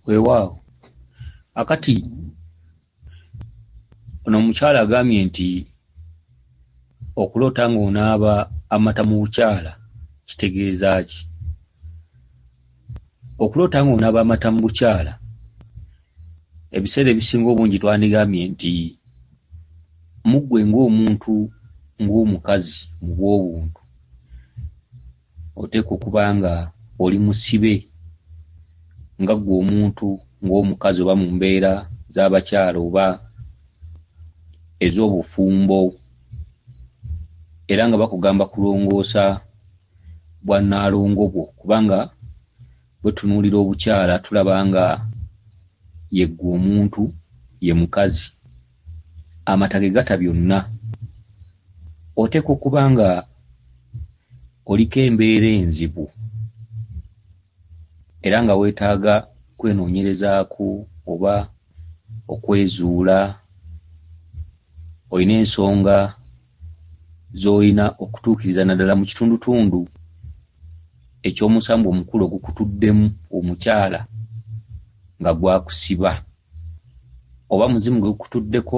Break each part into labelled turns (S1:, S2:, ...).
S1: Weewaawo akati ono omukyala agambye nti okuloota ng'onaaba amata mu bukyala kitegeeza ki? Okuloota ng'onaaba amata mu bukyala ebiseera ebisinga obungi twandigambye nti muggwe ng'omuntu ng'omukazi mu bw'obuntu oteekwa okuba nga oli musibe nga ggwe omuntu ng'omukazi oba mu mbeera z'abakyala oba ez'obufumbo era nga bakugamba kulongoosa bwa nnaalongo bwo kubanga bwetunuulira obukyala tulaba nga yeggwe omuntu ye mukazi. amata gegata byonna oteekwa okuba nga oliko embeera enzibu era nga weetaaga kwenoonyerezaako oba okwezuula olina ensonga z'olina okutuukiriza naddala mu kitundutundu eky'omusango omukulu ogukutuddemu omukyala nga gwakusiba oba muzimu gwe gukutuddeko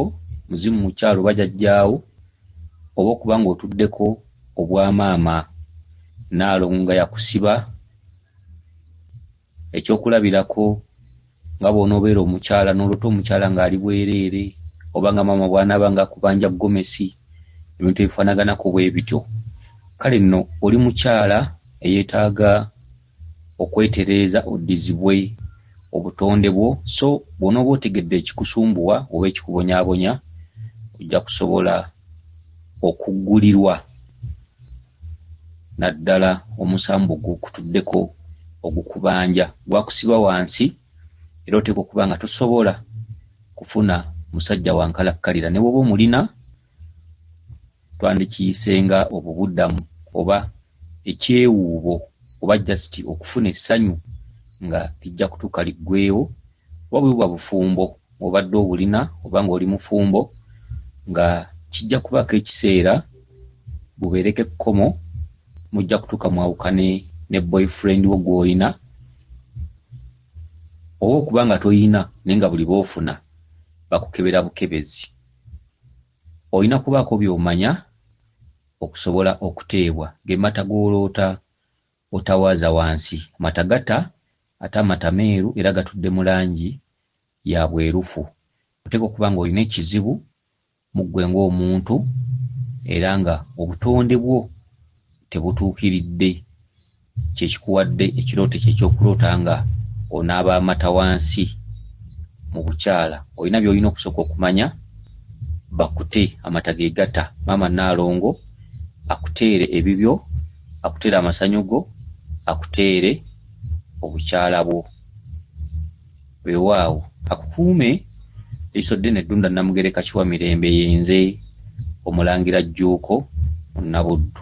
S1: muzimu mukyala oba jajjaawo oba okuba ng'otuddeko obwa maama naalongo nga yakusiba Eky'okulabirako, nga bw'onoobeera omukyala n'olota omukyala ng'ali bwereere, oba nga maama bw'anaaba ng'akubanja ggomesi, ebintu ebifaanaganako bwe bityo, kale nno oli mukyala eyeetaaga okwetereeza oddizibwe obutonde bwo, so bw'onooba otegedde ekikusumbuwa oba ekikubonyaabonya, ojja kusobola okuggulirwa. naddala omusambu gukutuddeko ogukubanja gwakusiba wansi era oteekwa okuba nga tosobola kufuna musajja wa nkalakkalira ne bw'oba omulina twandikiyise nga obubuddamu oba ekyewuubo oba just okufuna essanyu nga lijja kutuuka liggweewo. Oba bwe buba bufumbo ng'obadde obulina oba ng'oli mufumbo nga kijja kubaako ekiseera bubeereko ekkomo mujja kutuuka mwawukane ne boyfriend wo gw'olina oba okuba nga tolina naye nga buli b'ofuna bakukebera bukebezi. Olina kubaako by'omanya okusobola okuteebwa ge mata g'oloota otawaaza wansi. Amata gata ate amata meeru era gatudde mu langi ya bwerufu. Oteekwa okuba ng'olina ekizibu mu ggwe ng'omuntu era ng'obutonde bwo tebutuukiridde kye kikuwadde ekirooto ekyo eky'okuloota ng'onaaba amata wansi mu bukyala. Olina by'olina okusooka okumanya, bakute, amata ge gata maama Nnaalongo akuteere ebibyo. akutere amasanyu go, akuteere obukyala bwo. Weewaawo akukuume Liisoddene Ddunda Namugereka Kiwamirembe Ye nze Omulangira Jjuuko Munnabuddu.